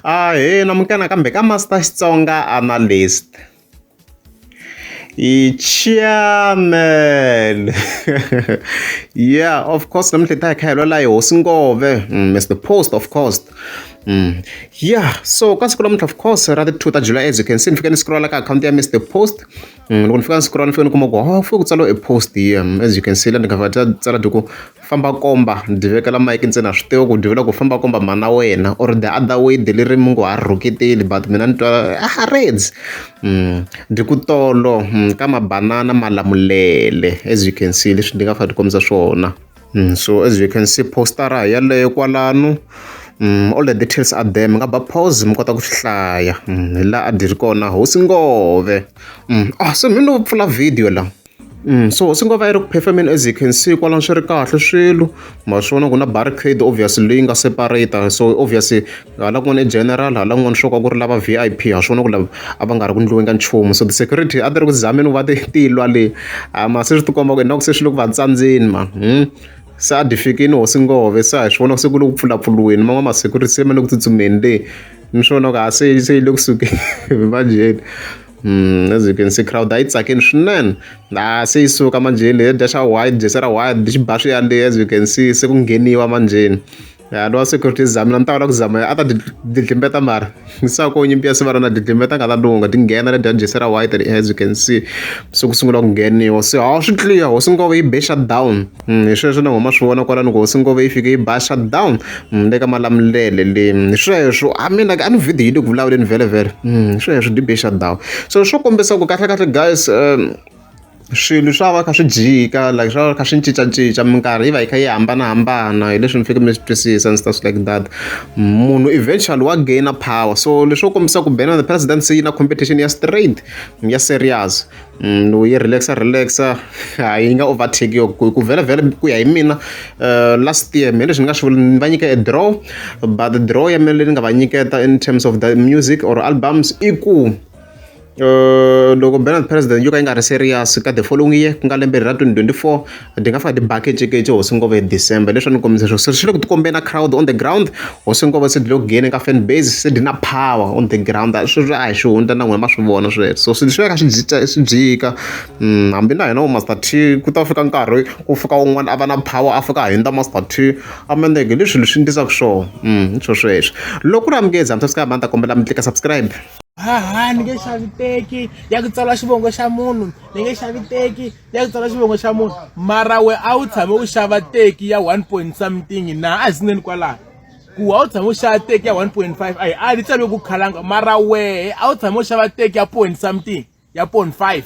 Ahee munghana kambe ka Master Xitsonga Analyst hi chairman ya of course namuntlha hi ta hi kha hi lwela hi hosi Ngove Mister Post of course ya so ka siku namuntlha of course ra ti two ta July as you can see ni fike ni scroll-a ka akhawunti ya Mister Post. loko ni fika ni siku ra ni fane ni kuma ku ho fike ku tsaliwe e post here as you can see la ni cover leter tsala ti ku famba komba ni ti vekela mike ntsena a swi tiva ku ni ti vula ku famba komba mhana wena or the other way de leri mi ngo ha rhuketeli but mina ni twa a reds ni ku tolo ka mabanana malamulele as you can see leswi ni nga fa ni kombisa swona. Mm, so as you can see postara hi yaleyo kwalano mm, all the details are there mi nga ba pause mi kota ku swi hlaya mm, hi laha a dyi ri kona hosi ngove mm, ah se mi no pfula video la Mm, so hosi ngova yi ri ku performeni as you can see kwalano swi ri kahle swilo ma swi vona ku na barricade obviously leyi nga separate so obviously Hala kun'wana i general, hala kun'wana swo ka ku ri lava V_I_P. Ha swi vona ku lava a va nga ri ku endliweni ka nchumu. So ti-security a ti ri ku zameni ku va ti ti lwa le. Ha mara se swi ti komba ku ingaku se swi le ku va tsandzeni mani. Se a dyi fikile hosi Ngove, se a hi swi vona se ku le ku pfulapfuriweni. Man'wana ma-security se ma le ku tsutsumeni le, mi swi vona ku ha se se yi le ku sukeni manjheni. As you can see crowd a yi tsakile swinene. Ha se yi suka manjheni leyi ya dya xa white, jesi ra white, xi ba swi ya le as you can see se ku ngheniwa manjheni. ya lowa security zamina ni ta kota ku zama a ta didlimbeta mara ni sa ko nyimpi ya sivara na didlimbeta nga ta lunga ti nghena le dyajesi ra white and as you can see se ku sungula ku ngheniwa se hawu swi clear hosi ngove yi be shut down hmm, hi sweswo ni huma swi vona kwalani ku hosi ngove yi fike yi ba shut down hmm, le ka malamulele le hmm, hi sweswo a mina a ni video yi le ku vulavuleni vhele vhele hi sweswo di be shut down so swo kombisa ku kahle kahle guys um swilo swa va kha swi jika like swa va kha swi cincacinca minkarhi yi va yi kha yi hambanahambana hi leswi mi fike mi swi twisisa and stuff like that munhu eventually wa gaina power so leswo kombisa ku bena the president se yi na competition ya straight ya serious mm, lowu yi relaxa relaxa a yi nga overtake yo ku vhela vhela ku ya hi mina eh, last year mina leswi ni nga swi vula ni va nyika e draw but draw ya mina leyi ni nga va nyiketa in terms of the music or albums i ku loko banner president yo ka yi nga ri serious ka the following year ku nga lembe ra 2024 ti nga fika ti bakecekece hosi ngova hi december leswi ni kombisa swo swi le ku tikombeni na crowd on the ground hosi ngova se dilo gene ka fan base se dina power on the ground sweswi a hi swi hundza na n'wina ma swi vona sweswo so swilo swi veka swi jika swi jika mm, hambi na hina master t ku ta fika nkarhi ku fika un'wana a va na power a fika hundza master t amendeke leswi leswi ndisaka swona mm, swesweswo loko ku ri amukezi hambi swi ka mani ta kombela mi tlika subscribe haha ni nge xavi teki ya ku tsala xivongo xa munhu ni nge xavi teki ya ku tsala xivongo xa munhu mara we a wu tshame u xava teki ya one point something na a hi sineni kwalaho ku a wu tshame u xava teki ya one point five a yi a ni tsale ku khalanga mara wehe a wu tshame u xava teki ya point something ya point five